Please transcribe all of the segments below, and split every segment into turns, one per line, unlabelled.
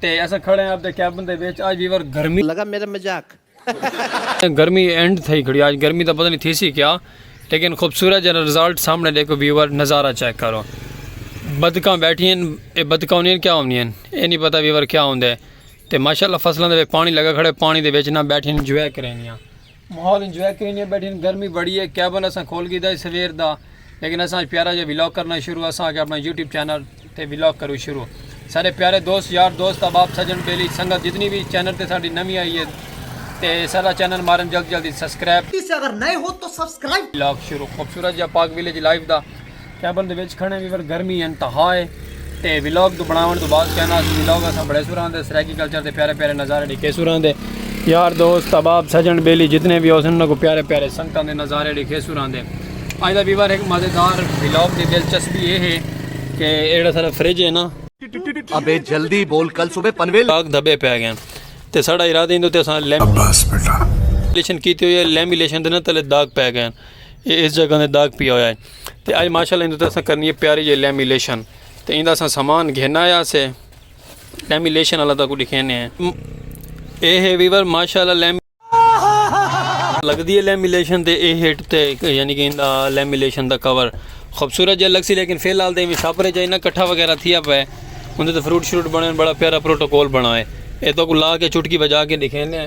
تے اساں کھڑے آں اپنے کیبن دے وچ آج ویور گرمی لگا میرا مزاق۔
گرمی اینڈ
تھئی کھڑی آج گرمی دا پتہ نہیں تھی سی کیا لیکن خوبصورت جڑا رزلٹ سامنے ڈیکھو ویور نظارہ چیک کرو بدکاں بیٹھی ہیں اے بدکاں ہونی ہیں کیا ہونی ہیں اے نہیں پتہ ویور کیا ہوندے تے ماشاءاللہ فصلاں دے پانی لگا کھڑے پانی دے وچ نہ بیٹھی ہیں انجوائے کریں گے ماحول انجوائے کرینے بیٹھے ہیں گرمی بڑی ہے کیبن اساں کھول گیتا ہے سویر دا لیکن اساں اج پیارا جا ولاگ کرنا شروع اساں آکھیا اپنا یوٹیوب چینل تے ولاگ کرو شروع سارے پیارے دوست یار دوست احباب سجن بیلی سنگت جتنی بھی چینل تے ساڈی نوی آئی ہے تے سارا چینل مارن جلد جلد سبسکرائب کسے اگر نئے ہو تو
سبسکرائب ولاگ شروع خوبصورت
جا پاک ولیج لائف دا۔ کیبن دے وچ کھڑے ویور گرمی انتہا ہے تے ویلاگ تو بناون تو بعد کہنا اس ویلاگ اساں بڑے سوران دے سرائیکی کلچر دے پیارے پیارے نظارے ڈیکھے سوران دے یار دوست اباب سجن بیلی جتنے بھی ہو سن کو پیارے پیارے سنگتاں دے نظارے ڈیکھے سوران دے اج دا ویور ایک مزیدار ویلاگ دی دلچسپی یہ ہے کہ ایڑا سارا فریج ہے نا ابے
جلدی بول کل صبح پنویل لاگ دھبے پہ گئے
تے ساڑا ارادہ ہندو تے اساں لیملیشن کیتی ہوئی ہے لیملیشن دے نا تلے داغ پہ گئے یہ اس جگہ دے داغ پیا ہویا ہے تے اج ماشاءاللہ اندے تے اساں کرنی ہے پیاری جے لیمینیشن تے ایندا اساں سامان گھن آیا سے لیمینیشن والا تاکو دکھینے ہیں اے ہے ویور ماشاءاللہ لیم لگدی ہے لیمینیشن تے اے ہٹ تے یعنی کہ ایندا لیمینیشن دا کور خوبصورت جے لگ سی لیکن فی الحال تے میں چھاپ رہے جائے نہ کٹھا وغیرہ تھیا پے اندے تے فروٹ شروٹ بنے بڑا پیارا پروٹوکول بنا ہے اے تاکو لا کے چٹکی بجا کے دکھینے ہیں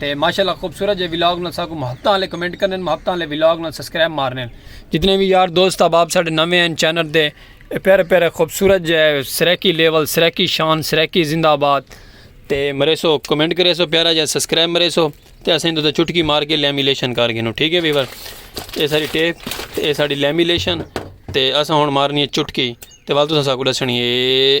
تے ماشاءاللہ خوبصورت جے ولاگ نال ساکوں محبتاں والے کمنٹ کرنن محبتاں والے ولاگ نال سبسکرائب مارنن جتنے وی یار دوست احباب ساڈے نویں ہیں چینل دے پیارے پیارے خوبصورت جے سریکی لیول سریکی شان سریکی زندہ آباد تے مریسو کمنٹ کریسو پیارا جے سبسکرائب مریسو تے اسیں تو چٹکی مار کے لیمیلیشن کر گئے ٹھیک ہے ویور اے ساری ٹیپ تے اے ساری لیمیلیشن تے اساں ہن مارنی ہے چٹکی تے وال تساں ساکوں دسنی ہے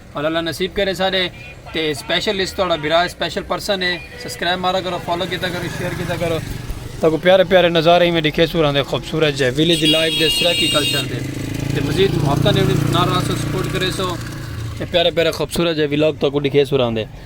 اور اللہ نصیب کرے سارے تے سپیشل اس توڑا بھرا سپیشل پرسن ہے سبسکرائب مارا کرو فالو کیتا کرو شیئر کیتا کرو تاکو پیارے پیارے نظارے ہی میں دکھے سوران دے خوبصورت جے ویلیج لائف دے سرکی کلچر دے تے مزید محبتہ نے نہ رہا سو سپورٹ کرے سو تے پیارے پیارے خوبصورت جے ویلاگ تاکو دکھے سوران دے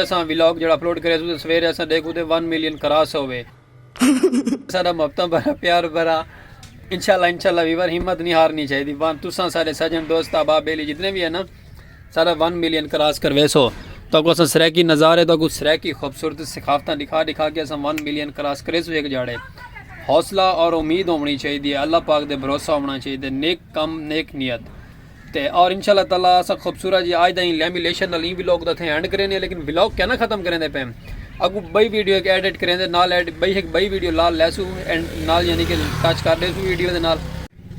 اساں ولاگ جیڑھا اپلوڈ کریس اتے سویرے اساں ڈیکھ اتے ون ملین کراس ہوے۔ ساڈا محبتاں بھرا پیار بھرا انشاءاللہ انشاءاللہ ویور ہمت نی ہارنی چاہیدی وان تساں سارے سجن دوست احباب بیلی جتنے وی ہے نا ساڈا ون ملین کراس کرویسو تاکو اساں سرائیکی نظارے تاکو سرائیکی خوبصورت ثقافتاں دکھا دکھا کے اساں ون ملین کراس کریسو ایک جاڑے حوصلہ اور امید ہونی چاہیدی ہے اللہ پاک دے بھروسہ ہونا چاہیدے نیک کم نیک نیت تے اور انشاء اللہ تعالی اسا خوبصورت جی آج دا ہی لیمی لیشن نال ہی ویلوگ دا تھے اینڈ کرینے لیکن ویلوگ کیا نہ ختم کرینے پہ اگو بھئی ویڈیو ایک ایڈٹ کرینے نال ایڈ بھئی ایک بھئی ویڈیو لال لیسو اینڈ نال یعنی کہ ٹچ کر دیسو ویڈیو دے نال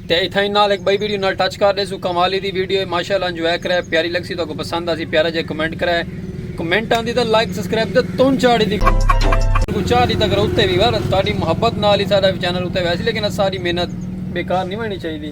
تے ایتھا ہی نال ایک بھئی ویڈیو نال ٹچ کر دیسو کمالی دی ویڈیو ماشاءاللہ انجوائے کرے پیاری لگ سی تو کو پسند آسی پیارا جے کمنٹ کرے کمنٹ آن دی تا لائک سسکریب دے تون چاڑی دی کو چاہ دی تک روتے بھی بار تاری محبت نالی سارا چینل روتے ویسی لیکن ساری محنت بیکار نہیں مانی چاہی دی